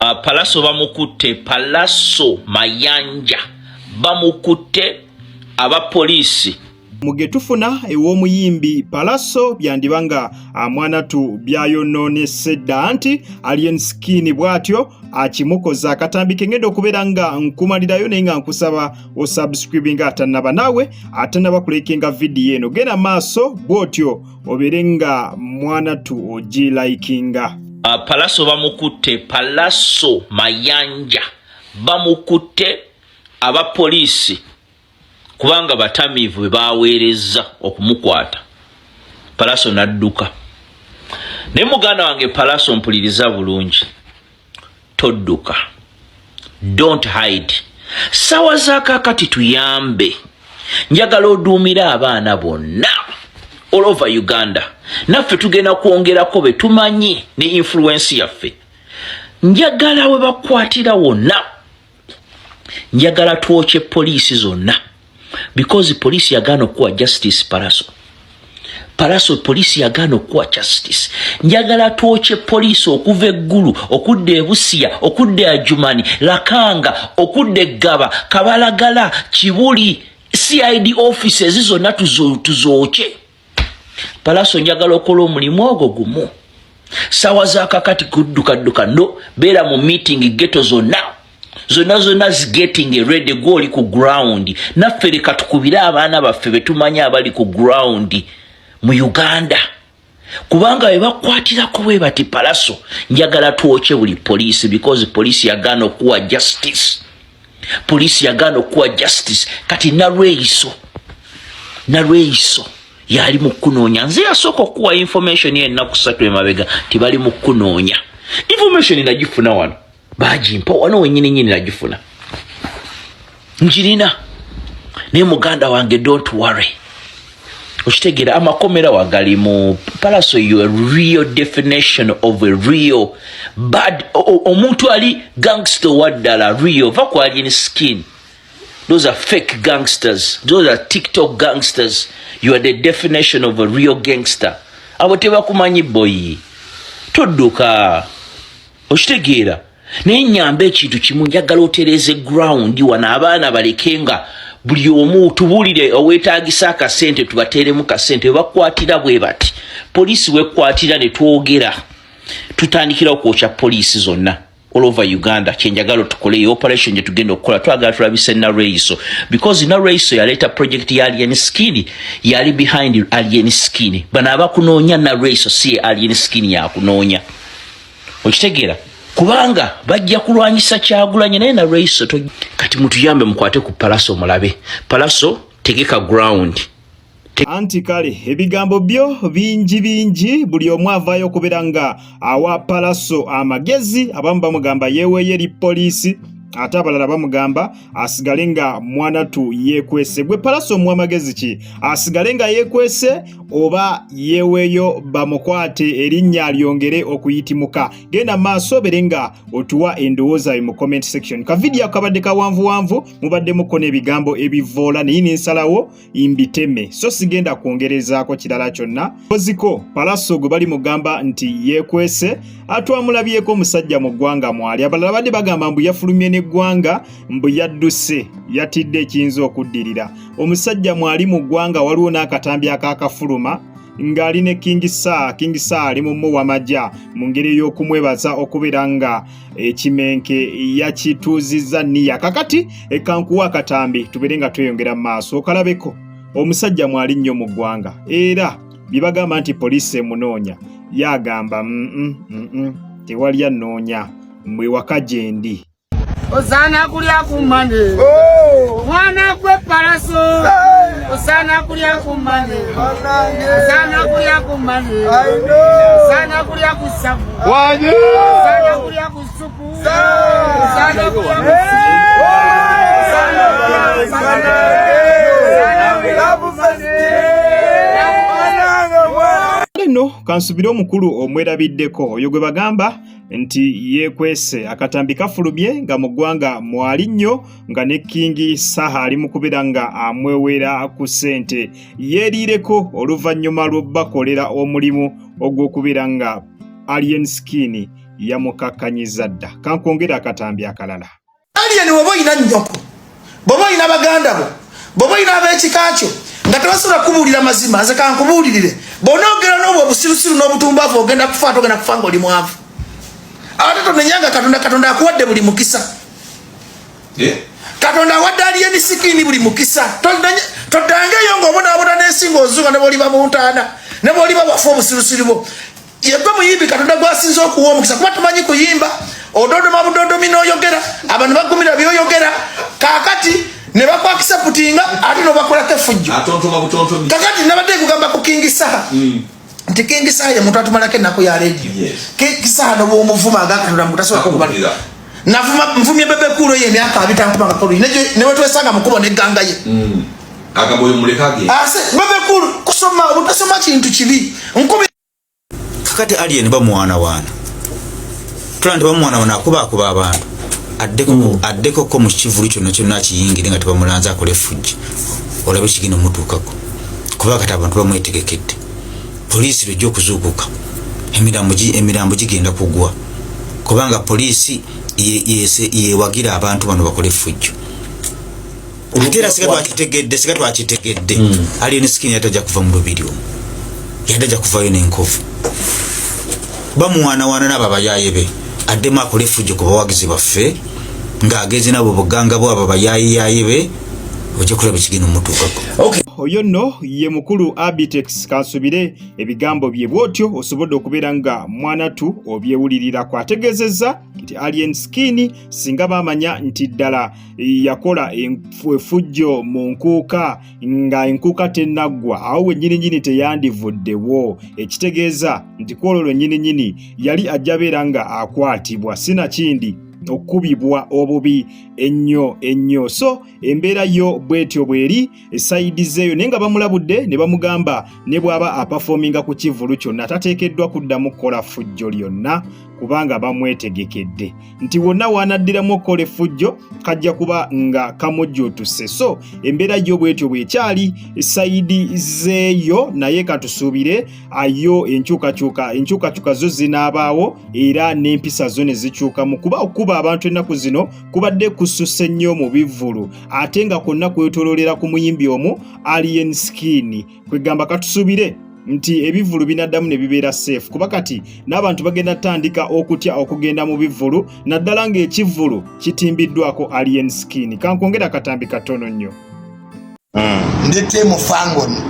Uh, palaso bamukutte palaso mayanja bamukutte aba poliisi mugetufuna ew'omuyimbi palaso byandiba nga ah, mwanatu byayononese dda nti alien skin bwatyo akimukoza akatambi kengenda okubeera nga nkumalirayo naye nga nkusaba osubscribinga atanaba naawe atanaba kulekenga vidiyo eno genda maaso bwotyo obere nga mwana tu oji likinga uh, palaso bamukutte palaso mayanja bamukutte aba poliisi kubanga batamiivu be baweerezza okumukwata palaso nadduka naye muganda wange palaso mpuliriza bulungi todduka don't hide sawa zakakati tuyambe njagala oduumira abaana bonna all over uganda naffe tugenda kwongerako be tumanyi ne influensi yaffe njagala we bakwatira wonna njagala twokye poliisi zonna because poliisi yagaana okukuwa justice paraso paraso poliisi yagaana okukuwa justice njagala twokye poliisi okuva eggulu okudda ebusiya okudda ajumani lakanga okudda eggaba kabalagala kibuli cid offices zonna tuzookye tuzo palaso njagala okola omulimu ogwo gumu sawa zakakati kuddukadduka no beera mu meeting geto zonna zonna zonna zigeting eredi gwe oli ku ground naffe leka tukubire abaana baffe betumanyi abali ku ground mu uganda kubanga webakwatirako we bati palaso njagala twokye buli poliisi because poliisi yagaana okuwa justice poliisi yagaana okukuwa justice kati nalweyiso nalweyiso yali mu kukunoonya nze yasooka okukuwa information enaku satu emabega tibali mu kukunoonya information nagifuna wano bagimpa wano wenyini nyini nagifuna njirina naye muganda wange don't worry okitegera amakomera wagali mu palaso you a real definition of a real bad omuntu ali gangster waddala real va ku alien skin those are fake gangsters those are tiktok gangsters you are the definition of a real gangster abo tebakumanyi boyi todduka okitegeera naye nyamba ekintu kimu njagala otereeze ground wano abaana baleke nga buli omu tubuulire owetagisa akasente tubateeremu kasente webakwatira bwe bati poliisi wekwatira ne twogera tutandikira okwokya poliisi zonna all over uganda kyenjagala tukole e operation gye tugenda okukola twagala tulabise nalweiso because nalweiso yaleeta project ya alien skin yali behind alien skin bano abakunoonya nalweiso si alien skin yakunoonya okitegeera kubanga bajja kulwanyisa kyagulanye naye nalweiso kati mutuyambe mukwate ku palaso mulabe palaso tegeka ground anti kale ebigambo byo bingi bingi buli omu avaayo okubeera nga awa palaso amagezi abamu bamugamba yeeweeyo eri poliisi ate abalala bamugamba asigale nga mwana tu yekwese gwe palaso omuwa magezi ki asigale nga yekwese oba yeweeyo bamukwate erinnya lyongere okuyitimuka genda maaso obere nga otuwa endowooza yo mu comment section kavidiyo kabadde kawanvuwanvu mubadde mukona ebigambo ebivoola naye nensalawo imbiteme so sigenda kwongerezaako kirala kyonna koziko palaso gwe bali mugamba nti yekwese atwamulabyeko omusajja mu ggwanga mwali abalala badde bagamba mbu yafulumye n'eggwanga mbu yadduse yatidde ekiyinza okuddirira omusajja mwali mu ggwanga waliwo n'akatambi akakafuluma ng'ali ne kingi saa kingi saa ali mu muwamaja mu ngeri ey'okumwebaza okubeera nga ekimenke yakituuzizza niya kakati ekankuwa akatambi tubeere nga tweyongera mu maaso okalabeko omusajja mwali nnyo mu ggwanga era bye bagamba nti poliisi emunoonya yagamba mm, mm, mm, tewali annoonya mwe waka gyendi osaana kulya ku mane oh! mwana gwe palaso Sana kulya kumane. Sana kulya kumane. Sana kulya kusabu. Waje. Sana kulya kusupu. Sana kulya kusupu. Sana kulya kumane. Nno kansubire omukulu omwerabiddeko oyo gwe bagamba nti yeekwese akatambi kafulumye nga mu ggwanga mwali nnyo nga ne kingi saha ali mu kubeera nga amwewera ku ssente yeeriireko oluvannyuma lw'okubakolera omulimu ogw'okubeera nga alien skin yamukakkanyiza dda kankwongera akatambi akalala alien waba olina nnyoko bwaba olina baganda bo bwaba olina ab'ekika kyo nga tebasobola kubuulira mazima nze kankubuulirire bwonaogera n'obwo obusirusiru n'obutumbavu ogenda kufa ate ogenda kufa nga oli mwavu ate tonenyanga katonda katonda akuwadde buli mukisa eh? katonda awadde aliyeni sikini buli mukisa toddangeeyo ngaobonaabona n'ensi ngaozuuka ne boliba mu ntaana ne boliba wafa obusirusiru bwo yegwe muyimbi katonda gwasinza okuwa omukisa kuba tumanyi kuyimba ododoma budodomi noyogera abantu bagumira byoyogera kakati nebakwakisa putinga ate nobakolako efujjo kakati nabadde kugamba ku kingi saha mm. nti kingi saha yemuntu atumalako ennaku ya leediyo kingi saha nobwomuvuma agakatonda mutasobola kubalira navuma nvumye bebe kuulo ye emyaka abitankumakakolu newetwesanga mukubo neganga ye mm. agamba oyo muleka ge ase ah, bebe kuulo kusoma obutasoma kintu kibi nkubi kakati alien bamwana wana tulaba nti bamwana wano akubaakuba abantu mm. addeko ko mu kivulu kyonna kyonna akiyingire nga tebamulanze akola efujja olabe kigenda omutuukako kuba kati abantu bamwetegekedde poliisi lwejja okuzuukuka emirambo gigenda kugwa kubanga poliisi yewagira abantu bano bakole efujjo ate era singa twakitegedde singa twakitegedde hmm. alien skin yali tajja kuva mu lubiri omu yali tajja kuvayo n'enkovu bamuwaanawaana n'abo abayaaye be addemu akole efujjo ku bawagizi baffe ng'agenze nabo buganga bwe abo bayaayiyaaye be ojja kulaba ekigenda omutuukako oyo nno ye mukulu abitex kansubire ebigambo bye bwotyo osobodde okubeera nga mwanatu obyewulirirako ategeezezza nti alien skin singa baamanya nti ddala yakola efujjo mu nkuuka nga enkuuka tennaggwa awo wennyininyini teyandivuddewo ekitegeeza nti kwolwo lwennyininyini yali ajja beera nga akwatibwa sinakindi okukubibwa obubi ennyo ennyo so embeera yo bwetyo bweri esayidi zeeyo naye nga bamulabudde ne bamugamba ne bw'aba apafoominga ku kivulu kyonna tateekeddwa kuddamu kukola fujjo lyonna kubanga bamwetegekedde nti wonna waanaddiramu okukola effujjo kajja kuba nga kamujjuutuse so embeera yo bwetyo bwekyali sayidi zeeyo naye katusuubire ayo enkyukakyuka enkyukakyuka zo zinaabaawo era n'empisa zo ne zikyukamu kuba okukuba abantu ennaku zino kubadde kususse nnyo mu bivvulu ate nga kwonna kwetololera ku muyimbi omu alien skin kwegamba katusubire nti ebivvulu binaddamu ne bibeera safe kuba kati n'abantu bagenda tandika okutya okugenda mu bivvulu naddala ng'ekivvulu kitimbiddwako alien skin kankwongera akatambi katono nnyo hmm. ndi tiimu fangoni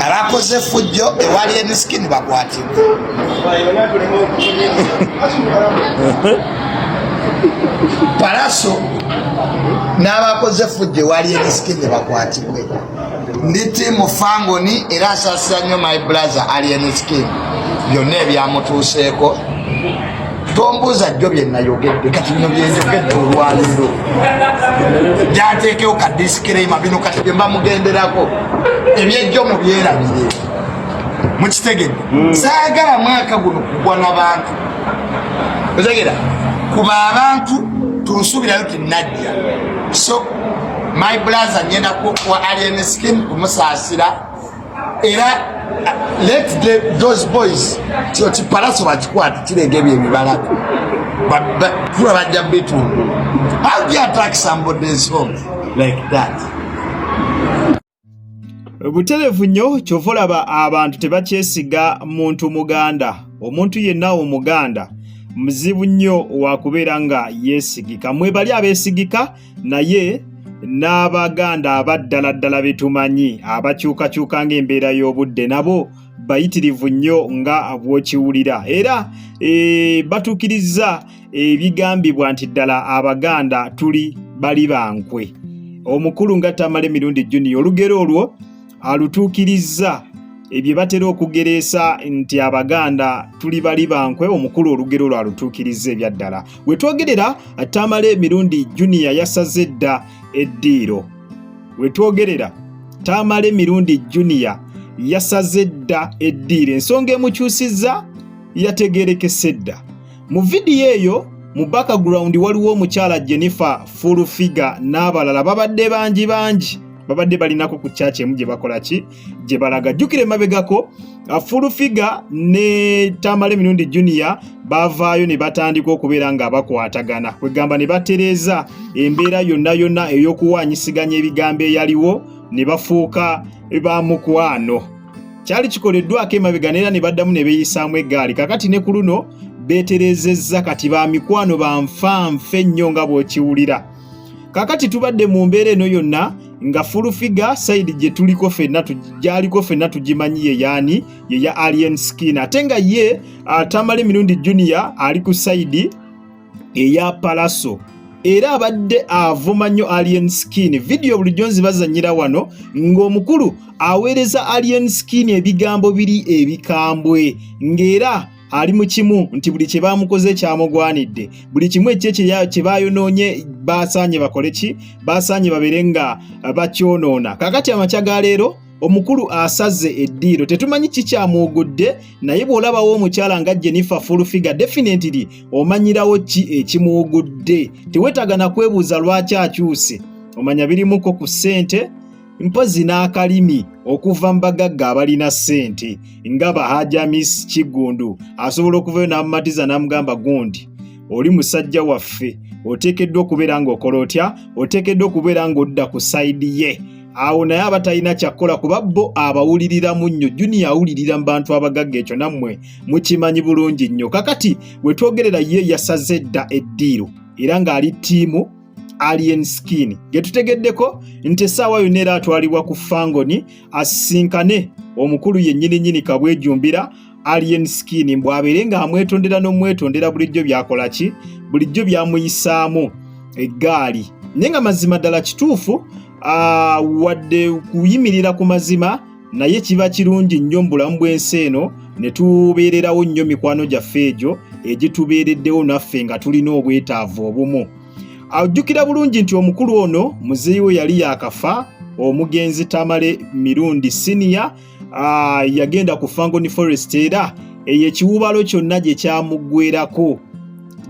abakoze efujjo ewali enisikini bakwatibwa palaso n'abakoze efujjo ewali enisikini bakwatibwe ndi tiimu fangoni era asasira nnyo my brother alien skin byonna ebyamutuuseeko tombuuza jjo bye nayogedde kati bino byenjogedde olwaliro gyateekewo ka disikirema bino kati bye mbamugenderako ebyejjo mu byerabire mukitegedde hmm. saagala mwaka guno kugwa na bantu otegera kuba abantu tunsuubirayo tinajja so my blaza ngenda wa alien skin kumusaasira era let the, those boys kino kipalaso bakikwata kireega ebyo ebibalako kula bajja bitundu how do you attack somebody's home like that buterevu nnyo kyova olaba abantu tebakyesiga muntu muganda omuntu yenna omuganda muzibu nnyo wakubeera nga yeesigika mwebali abeesigika naye n'abaganda abaddala ddala betumanyi abakyukakyuka ng'embeera y'obudde nabo bayitirivu nnyo nga bwokiwulira era e, batuukirizza ebigambibwa nti ddala abaganda tuli bali bankwe omukulu nga tamale mirundi juniya olugero olwo alutuukirizza ebye batera okugereesa nti abaganda tuli bali bankwe omukulu olugero lwalutuukiriza ebyaddala we twogerera tamale emirundi juniya yasaze edda eddiiro we twogerera tamale emirundi juniya yasaze edda eddiiro ensonga emukyusizza yategerekese edda Mu vidiyo eyo mu background waliwo omukyala Jennifer Full Figure n'abalala babadde bangi bangi babadde balinako ku church emu gye bakola ki gye balaga jjukira emabegako uh, Full Figure ne Tamale Mirundi Junior bavaayo ne batandika okubeera nga bakwatagana kwegamba ne batereeza embeera yonna yonna ey'okuwaanyisiganya ebigambo eyaliwo ne bafuuka ba mukwano. kyali kikoleddwako emabega neera ne baddamu ne beeyisaamu eggaali kakati ne ku luno beeterezezza kati ba mikwano ba nfa nfa ennyo nga bw'okiwulira kakati tubadde mu mbeera eno yonna nga fulufiga sayidi gye tuliko fenna gyaliko fenna tugimanyi ye yaani ye ya alien skin ate nga ye atamale mirundi junior ali ku sayidi eya palaso era abadde avuma nnyo alien skin vidiyo bulijjo nzibazanyira wano ng'omukulu aweereza alien skin ebigambo biri ebikambwe ng'era ali mu kimu nti buli kye baamukoze kyamugwanidde buli kimu ekye kye baayonoonye baasaanye bakole ki baasaanye babeere nga bakyonoona kakati amakya ga leero omukulu asaze eddiiro tetumanyi kikyamwogodde naye bw'olabawo omukyala nga jennifer fulfiga definitely omanyirawo ki ekimwogodde tewetaaga na kwebuuza lwaki akyuse omanya birimuko ku ssente mpozi n'akalimi okuva mu bagagga abalina ssente nga bahajamis kiggundu asobola okuvayo n'amumatiza n'amugamba gundi oli musajja waffe oteekeddwa okubeera ng'okola otya oteekeddwa okubeera ng'odda ku sayidi ye awo naye aba talina kyakkola kuba bo abawuliriramu nnyo juniya awulirira mu bantu abagagga ekyo nammwe mukimanyi bulungi nnyo kakati we twogerera ye yasaze edda eddiiro era ng'ali ttiimu alien skin ge tutegeddeko nti essaawa yonna era atwalibwa ku fangoni asisinkane omukulu yennyini nnyini kabwejumbira alien skin mbu abeere nga amwetondera n'omwetondera bulijjo byakola ki bulijjo byamuyisaamu eggaali naye nga mazima ddala kituufu wadde kuyimirira ku mazima naye kiba kirungi nnyo mu bulamu bw'ensi eno ne tubeererawo nnyo mikwano gyaffe egyo egitubeereddewo naffe nga tulina obwetaavu obumu ajjukira bulungi nti omukulu ono muzeeyi we yali yaakafa omugenzi tamale mirundi siniya ah, yagenda ku fangoni forest era eyo ekiwubalo kyonna gye kyamuggwerako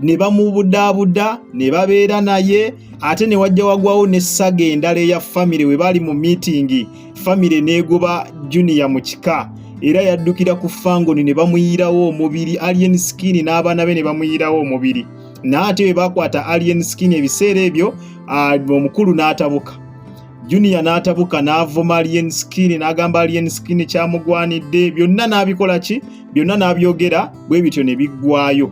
ne bamubudaabuda ne babeera naye ate ne wajja wagwawo n'essaga endala eya famire we baali mu miitingi famire n'egoba juniya mu kika era yaddukira ku fangoni ne bamuyirawo omubiri alien skin n'abaana be ne bamuyirawo omubiri naate we bakwata alien skin ebiseera ebyo omukulu n'atabuka Junior n'atabuka n'avuma Alien Skin n'agamba Alien Skin kyamugwanidde byonna n'abikola ki byonna n'abyogera bwe bityo ne biggwayo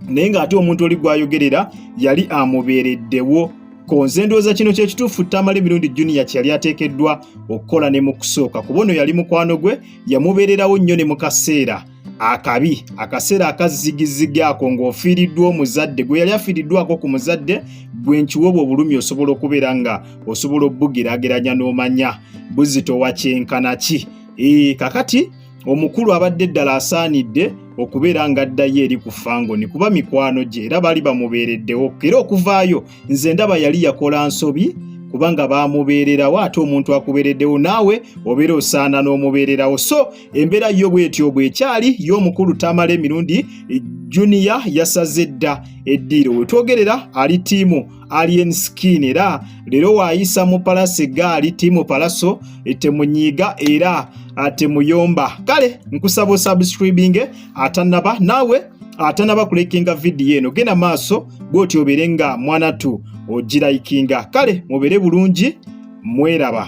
naye ng'ate omuntu oli gw'ayogerera yali amubeereddewo konze ndowooza kino kyekituufu tamala emirundi junior kyeyali ateekeddwa okukola ne mu kusooka kuba ono yali mukwano gwe yamubeererawo nnyo ne mu kaseera akabi akaseera akazigizigi ako ng'ofiiriddwa omuzadde gwe yali afiiriddwako ku muzadde gwe nkiwa obwo obulumi osobola okubeera nga osobola obugeraageranya n'omanya buzito wa kyenkana ki ee kakati omukulu abadde ddala asaanidde okubeera nga addayo eri ku fangoni kuba mikwano gye era baali bamubeereddewo era okuvaayo nze ndaba yali yakola nsobi kubanga baamubeererawo ate omuntu akubeereddewo naawe obeera osaana n'omubeererawo so embeera yo bwetyo bwekyali y'omukulu tamale mirundi junior yasaze dda eddiiro wetwogerera ali tiimu alien skin era leero waayisa mu palasi gaali tiimu palaso temunyiiga era temuyomba kale nkusaba osubscribinge atanaba naawe atanaba kulekinga vidiyo eno genda maaso bwoti obeere nga mwanatu ogirayikinga kale mubeere bulungi mweraba